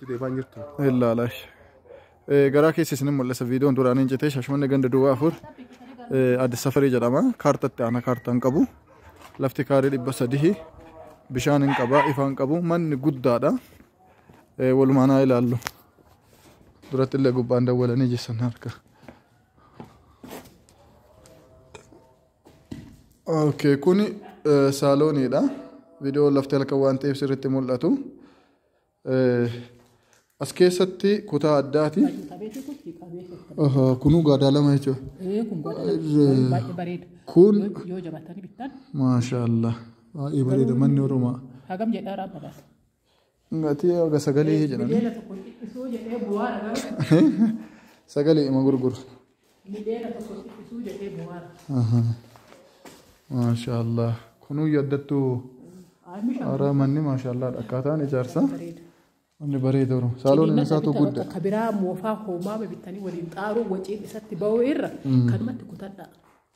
deemaa hin jirtu. Ilaala. Eh, Garaa keessa isin mul'isa viidiyoon duraan hin jetee shashmanni ganda duwwaa afur eh, Addis Safarii jedhama. Kaartatti aanaa kaartaa hin qabu. Lafti kaarii dhibba sadii bishaan hin qaba ifaa hin qabu manni guddaadha. Eh, Walumaan haa ilaallu. Duratti illee gubbaan dawwalanii jessan harka. Okay, kuni eh, saalooniidha. Viidiyoon lafti halkan waan ta'eef sirriitti mul'atu. As keessatti kutaa addaati. Kunuu gaadaa lama jechuudha. Baay'ee bareeda. Kun Yoo jabaatanii bittan maashaallah baay'ee bareeda manni oromaa. hagam jedhaa raabalaas. Gatii haga sagalee jedhani. Mijeela tokko dhiisuu jedhee bu'aa dhagaa. Sagalee ima gurguru. Mideera tokko xiqqisuu jedhee bu'aara. Aha. Maashaallah. Kunuu yaddattu Amisha haaraa manni maashaallah akkaataan ijaarsa bareeda. manni bareeda oro. Saaloon Ciniinnata isaatu bitta gudda. bakka Ka biraa moofaa hoomaama bittanii waliin xaaruu waciin isatti ba'uu irra kanumatti kutadhaa.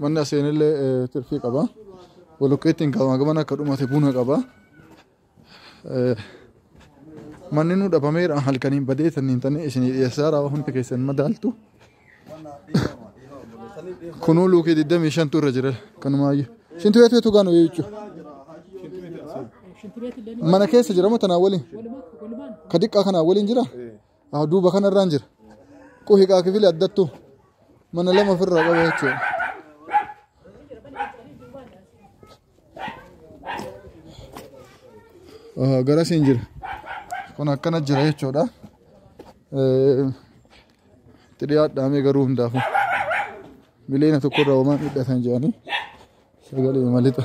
Manni aseenillee tirfii qaba. Bolokeettiin gamaa gaman akka dhumate buna qaba. Manni nu dhabameera halkaniin badee sanniin tanee isinii dhiyeessaa raawwa hundi keessan madaaltu. Kunuu luukii 25 tu irra jira kanumaayyuu. Shintu beetu beetu gaanu jechuudha. Mana keessa jira moo tanaa waliin? Ka diqqaa kanaa waliin jira? Ah, duuba kanarraan jira. Quhiqaa kifili addattu mana lama ofirraa qaba jechuudha. Ah, Garasiin jira. Kun akkana jira jechuudha. Eh, Itti dhiyaadhaamee garuu hundaafuu. Miliyoona tokkorraa homaa midhatan jedhanii sagalee malixa.